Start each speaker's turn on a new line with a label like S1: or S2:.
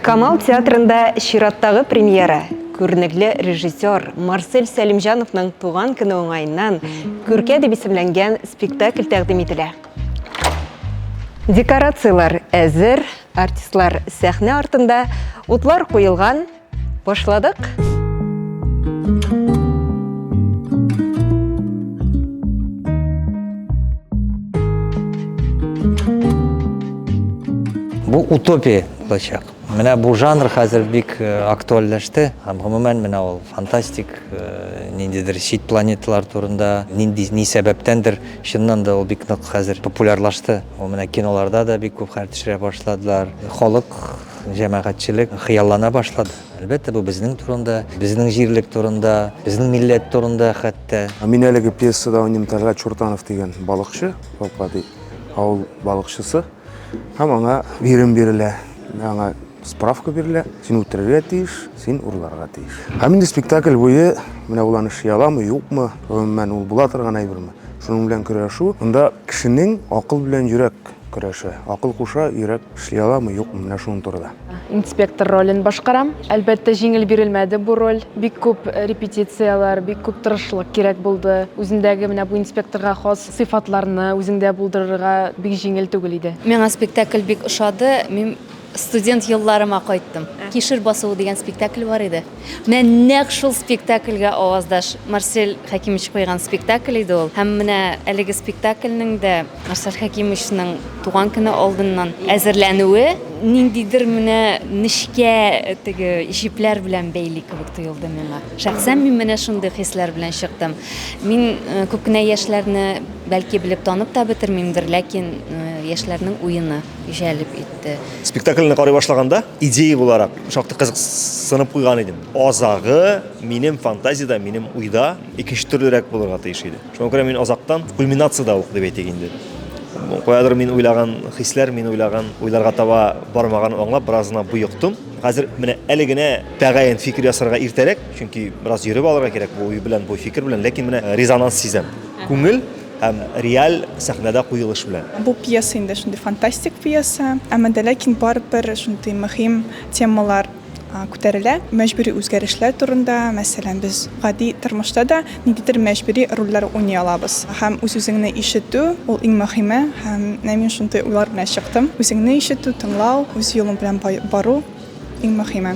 S1: Камал театрында чираттагы премьера, күренекле режиссер Марсель Сәлимҗановның туган көне уңаеннан Күркә дип исемләнгән спектакль тәкъдим ителә. Декорацияләр әзер, артистлар сәхнә артында, утлар куелган. Башладык!
S2: Бу утопия булачак. Менә бу жанр хәзер бик актуальләште һәм гомумән менә ул фантастик, ниндидер чит планеталар турында, нинди ни сәбәптәндер чыннан да ул бик нык хәзер популярлашты. Ул менә киноларда да бик күп хәл төшерә башладылар. Халык, җәмәгатьчелек хыяллана башлады. Әлбәттә, бу безнең турында, безнең җирлек турында, безнең милләт турында хәтта. Мин әлеге пьесада
S3: уйныйм, Тәлгать Чуртанов дигән балыкчы, Балкади авыл балыкчысы. Һәм аңа бирем бирелә. Аңа справка бирелә. Син үтерергә тиеш, син урларга тиеш. Һәм инде спектакль буе менә ул аны ши аламы, юкмы, гомумән ул була торган әйберме? Шуның белән көрәшү. Монда кешенең акыл белән йөрәк көрәшә. Акыл куша, йөрәк эшли аламы, юкмы, менә шуның турыда. Инспектор ролен
S4: башкарам. Әлбәттә, җиңел бирелмәде бу роль. Бик күп репетицияләр, бик күп тырышлык кирәк булды. Үзендәге менә бу инспекторга хас Сыйфатларны үзеңдә булдырырга бик җиңел түгел иде. Миңа спектакль бик
S5: ошады. Мин студент елларыма кайттым. Кишер басуы дигән спектакль бар иде. Менә нәкъ шул спектакльгә аваздаш Марсель Хәкимович куйган спектакль иде ул. Һәм менә әлеге спектакльнең дә Марсель Хәкимовичның туган көне алдыннан әзерләнүе ниндидер менә нечкә теге җепләр белән бәйли кебек тоелды миңа. Шәхсән мин менә шундый хисләр белән чыктым. Мин күп кенә яшьләрне бәлки белеп танып та бетермимдер, ләкин яшьләрнең уены җәлеп итте. Спектакльне карый
S6: башлаганда, идея буларак шактый кызыксынып куйган идем. Азагы минем фантазиядә, минем уйда икенче төрлерәк булырга тиеш иде. Шуңа күрә мин азактан кульминациядә ук дип әйтик инде. Каядыр мин уйлаган хисләр, мин уйлаган уйларга таба бармаганын аңлап, бераз гына боектым. Хәзер менә әле генә тәгаен фикер ясарга иртәрәк, чөнки бераз йөреп алырга кирәк бу уй белән, бу фикер белән, ләкин менә э, резонанс сизәм. Күңел һәм реаль сәхнәдә куелыш белән. Бу пьеса инде шундый
S7: фантастик пьеса, әмма дә ләкин барыбер шундый мөһим темалар күтәрелә. Мәҗбүри үзгәрешләр турында, мәсәлән, без гади тормышта да Ниндидер мәҗбүри рольләр уйный алабыз. Һәм үз-үзеңне ишетү, ул иң мөһиме. Һәм менә мин шундый уйлар белән чыктым. Үзеңне ишетү, тыңлау, үз юлың белән бару, иң мөһиме.